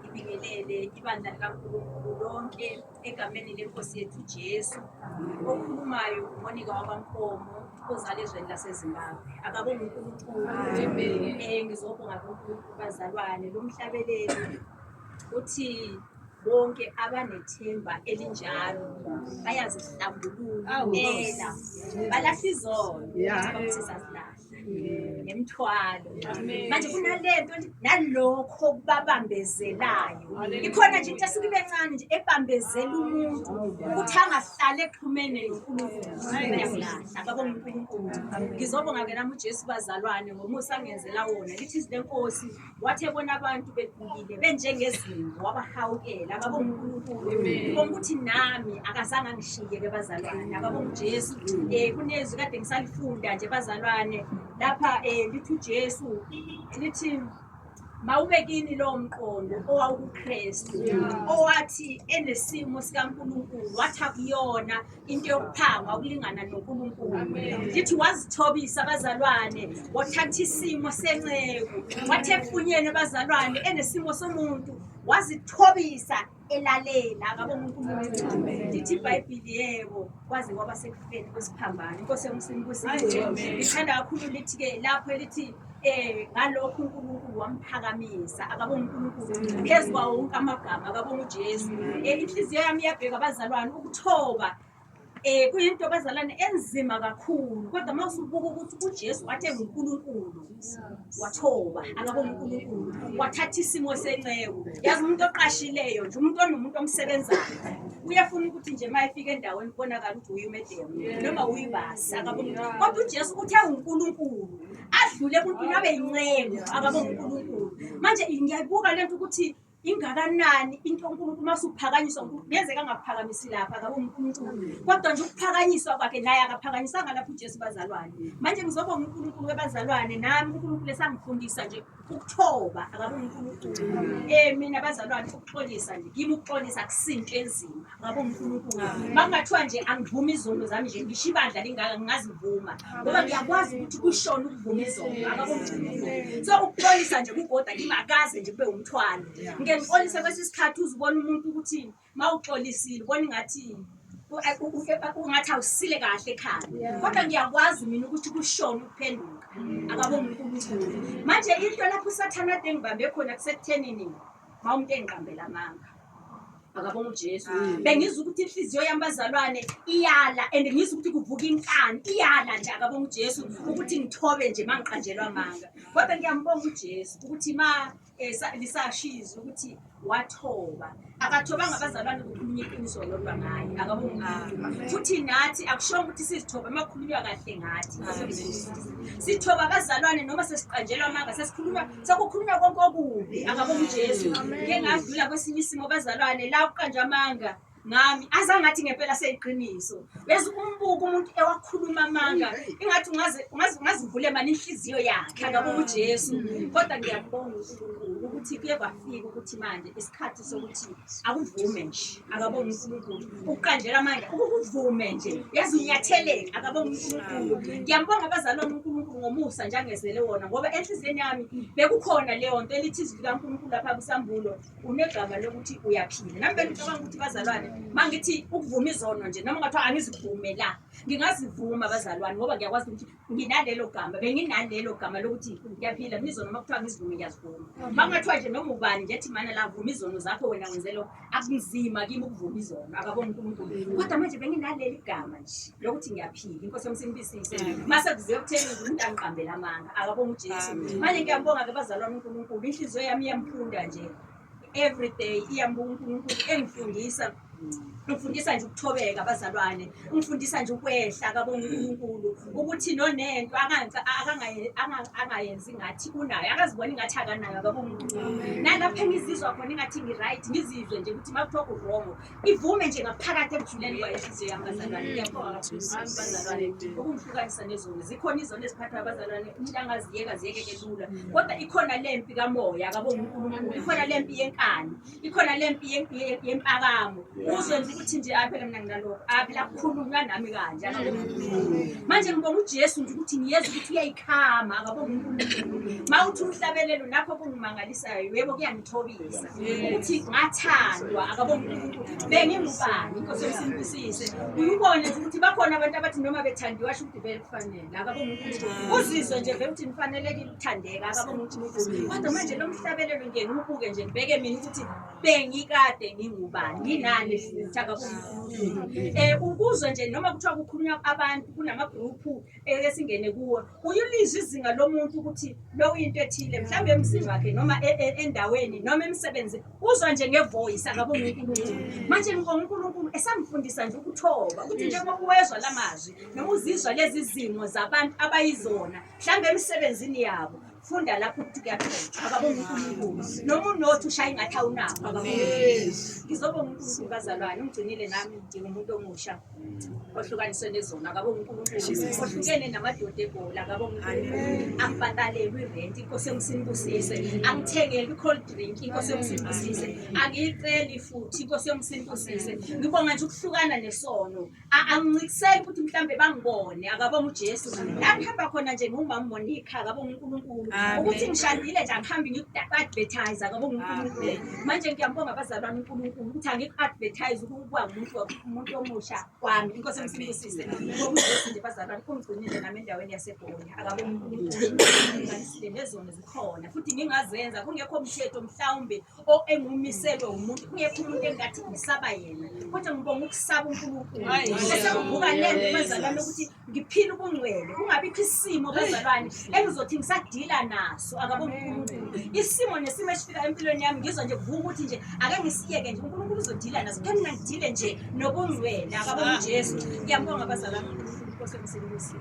ibingelele ibandla likaNkulunkulu lonke egameni lenkosi yethu Jesu. Okhulumayo uMonika wabankomo ozala ezweni laseZimbabwe. Akabonga uNkulunkulu. Eh ngizobonga kuNkulunkulu bazalwane lo mhlabeleli uthi bonke abanethemba elinjalo bayazihlambulula. Balahlizona. Yeah. nemthwalo manje kunalento nalokho okubabambezelayo ikhona nje into esuke ibe ncane nje ebambezela umuntu ukuthi angahlali exhumene nonkulunkuluababonga unkulunkulu ngizobonga ke nami ujesu bazalwane ngomusa angenzela wona lithi izinto enkosi Wathi ebona abantu begulile benjengezimvu wabahawukela baba uNkulunkulu ubona ukuthi nami akazange angishiye ke bazalwane ababa uJesu eh kunezwi kade ngisalifunda nje bazalwane lapha eh lithi uJesu lithi mawubekini lowo mqondo owawukuKristu owathi enesimo sikaNkulunkulu wathi akuyona into yokuphangwa ukulingana noNkulunkulu ndithi wazithobisa abazalwane wathatha isimo senceku wathi efunyeni abazalwane enesimo somuntu wazithobisa elalela ngabo uNkulunkulu ndithi iBhayibheli yebo kwaze kwaba sekufeni kwesiphambano inkosi yomsini kusiwe ngithanda kakhulu lithi ke lapho elithi Eh ngalokho uNkulunkulu wamphakamisa akaba uNkulunkulu phezu kwawo wonke amagama akaba uJesu. Eh inhliziyo yami iyabheka abazalwane ukuthoba eh kuyinto abazalwane enzima kakhulu kodwa uma usubuka ukuthi uJesu wathe uNkulunkulu wathoba akaba uNkulunkulu wathatha isimo senceku yazi umuntu oqashileyo nje umuntu onomuntu omsebenzayo uyafuna ukuthi nje uma efika endaweni kubonakala ukuthi uye umedemu noma uyibasi akaba uNkulunkulu. kodwa uJesu uthe uNkulunkulu adlule emuntwini abe yincengo akabe unkulunkulu manje ngiyayibuka le nto ukuthi ingakanani into unkulunkulu uma suphakanyiswa kuyenzeka angakuphakamisi lapha akabe unkulunkulu kodwa nje ukuphakanyiswa kwakhe naye akaphakanyisanga lapho ujesu bazalwane manje ngizoba unkulunkulu webazalwane nami unkulunkulu esangifundisa nje ukuthoba akabe unkulunkulu um mina bazalwane ukuxolisa nje kimi ukuxolisa akusinto enzima ngabo ngifuna ukuba makungathiwa nje angivumi izono zami nje ngisho ibandla lingaka ngingazivuma ngoba ngiyakwazi ukuthi kushona ukuvuma izono akabo ngifuna so ukuxolisa nje kugoda kingakaze nje kube umthwalo ngike ngixolise kwesi sikhathi uzibona umuntu ukuthi ma uxolisile ubona ingathi ungathi awusile kahle ekhaya kodwa ngiyakwazi mina ukuthi kushona ukuphenduka akabo unkulunkulu manje into lapho usathana ade ngibambe khona kusekuthenini ma umuntu engiqambela amanga akabonga uJesu mm. bengizwa ukuthi inhliziyo yami bazalwane iyala and ngizwa ukuthi kuvuka inkani iyala nje akabonga uJesu ukuthi ngithobe nje mangiqanjelwa manga kodwa ngiyambonga uJesu ukuthi ma eh, lisashiza ukuthi wathoba akathobanga abazalwane kukhulunywa iqiniso lodwa ngaye akabonga futhi nathi akushonga ukuthi sizithobe uma kukhulunywa kahle ngathi sithoba abazalwane noma sesiqanjelwa amanga sesikhuluma Sekukhulunywa konke okubi akabonga uJesu. Ngike ngadlula kwesinye isimo bazalwane la kuqanje amanga ngami azangathi ngempela seyiqiniso bese umbuka umuntu ewakhuluma amanga ingathi ungaze ungaze ungazivule mani inhliziyo yakhe akabonga uJesu kodwa ngiyabonga uNkulunkulu ukuthi kuye kwafika ukuthi manje isikhathi sokuthi akuvume nje akabonge uNkulunkulu ukuqanjelwa amandla ukukuvume nje yazi unyatheleke akabonge uNkulunkulu ngiyambonga abazalwane uNkulunkulu ngomusa nje angezele wona ngoba enhliziyweni yami bekukhona leyo nto elithi izwi likaNkulunkulu lapha kusambulo unegama lokuthi uyaphila nami bengicabanga ukuthi bazalwane uma ngithi ukuvuma izono nje noma ngathiwa angizivume la ngingazivuma bazalwane ngoba ngiyakwazi ukuthi nginalelo gama benginalelo gama lokuthi ngiyaphila mizono uma kuthiwa ngizivume ngiyazivuma uma kungathiwa nje noma ubani nje thimana la vuma izono zakho wena wenze lokho akunzima kimi ukuvuma izono akaboni unkulunkulu mm. kodwa manje benginaleli gama nje lokuthi ngiyaphila inkosi yomsimbisise mm. mase kuze kutheni umuntu angiqambela amanga akabonga ujesu manje ngiyambonga ke bazalwane unkulunkulu inhliziyo yami iyamphunda nje every day iyambonga unkulunkulu engifundisa ngifundisa nje ukuthobeka abazalwane ngifundisa nje ukwehla kabonga uNkulunkulu ukuthi nonento angayenzi ngathi unayo akaziboni ngathi akanayo kabonga uNkulunkulu nalapho engizizwa khona ingathi ngi-right ngizizwe nje ukuthi makuthiwa kurongo ivume nje ngaphakathi ebujuleni kwayenhliziyo yami bazalwane ngiyabonga kakhulu bazalwane ukungihlukanisa nezoni zikhona izoni eziphathwa abazalwane umuntu angaziyeka ziyekeke lula kodwa ikhona le mpi kamoya kabonga uNkulunkulu ikhona le mpi yenkani ikhona le mpi yempakamo uzwe nje ukuthi nje aphela mina nginalokho aphela kukhulunywa nami kanje manje ngibonga ujesu nje ukuthi ngiyeza ukuthi uyayikhama akabonga unkulunkulu ma uthi umhlabelelo nakho kungimangalisayo yebo kuyangithobisa ukuthi ngathandwa akabonga unkulunkulu bengingubani inkosi yomsimbusise uyubone ukuthi bakhona abantu abathi noma bethandiwe asho ukuthi vele kufanele uzizwe nje vele ukuthi nifanelekile ukuthandeka akabona ukuthi nithi kodwa manje lo mhlabelelo nje ngiwubuke nje ngibheke mina ukuthi bengikade ngingubani nginani futhi akabona unkulunkulu um eh, ukuzwe nje noma kuthiwa kukhulunywa abantu kunamagruphu eh, esingene kuwo uyulizwa izinga lomuntu ukuthi lo uyinto ethile mhlawumbe emzini wakhe noma e, e, endaweni noma emsebenzini uzwa nje ngevoice angabe uNkulunkulu manje ngibonga uNkulunkulu esamfundisa nje ukuthoba ukuthi njengoba uwezwa la mazwi noma uzizwa lezi zimo zabantu abayizona mhlawumbe emisebenzini yabo funda lapho ukuthi kuyaphela akabonga uNkulunkulu noma unothi ushaya ingathi awunakho akabonga ngizobonga uNkulunkulu bazalwane ungigcinile nami ngidinga umuntu omusha ohlukaniswe nezona akabo uNkulunkulu ohlukene namadoda ebhola akabo uNkulunkulu angibhatalelwi irent inkosi yomsinibusise angithengelwi cold drink inkosi yomsinibusise angiyiceli futhi inkosi yomsinibusise ngibonga nje ukuhlukana nesono angincikiseli ukuthi mhlambe bangibone akabo uJesu la ngihamba khona nje ngumama Monica akabo uNkulunkulu ukuthi ngishadile nje angihambi ngikuadvertise akabo uNkulunkulu manje ngiyambonga abazalwane uNkulunkulu ukuthi angiku advertise ukuba umuntu umuntu omusha kwami inkosi emsibusise ngokuthi nje bazalwane kungigcinile nami endaweni yaseGoli akabomunisile nezona zikhona futhi ngingazenza kungekho mthetho mhlawumbe engumiselwe umuntu kungekho umuntu engathi ngisaba yena kodwa ngibonga ukusaba uNkulunkulu bese kuvuka lento bazalwane ukuthi ngiphile ubungcwele kungabikho isimo bezalwane engizothi ngisadila naso akaboni unkulunkulu isimo nesimo esifika empilweni yami ngizwa nje kuvuka ukuthi nje ake ngisiyeke nje unkulunkulu uzodila naso khe mina ngidile nje nobungcwele akaboni ujesu ngiyambonga abazalwane unkulunkulu nkosi emsebenzini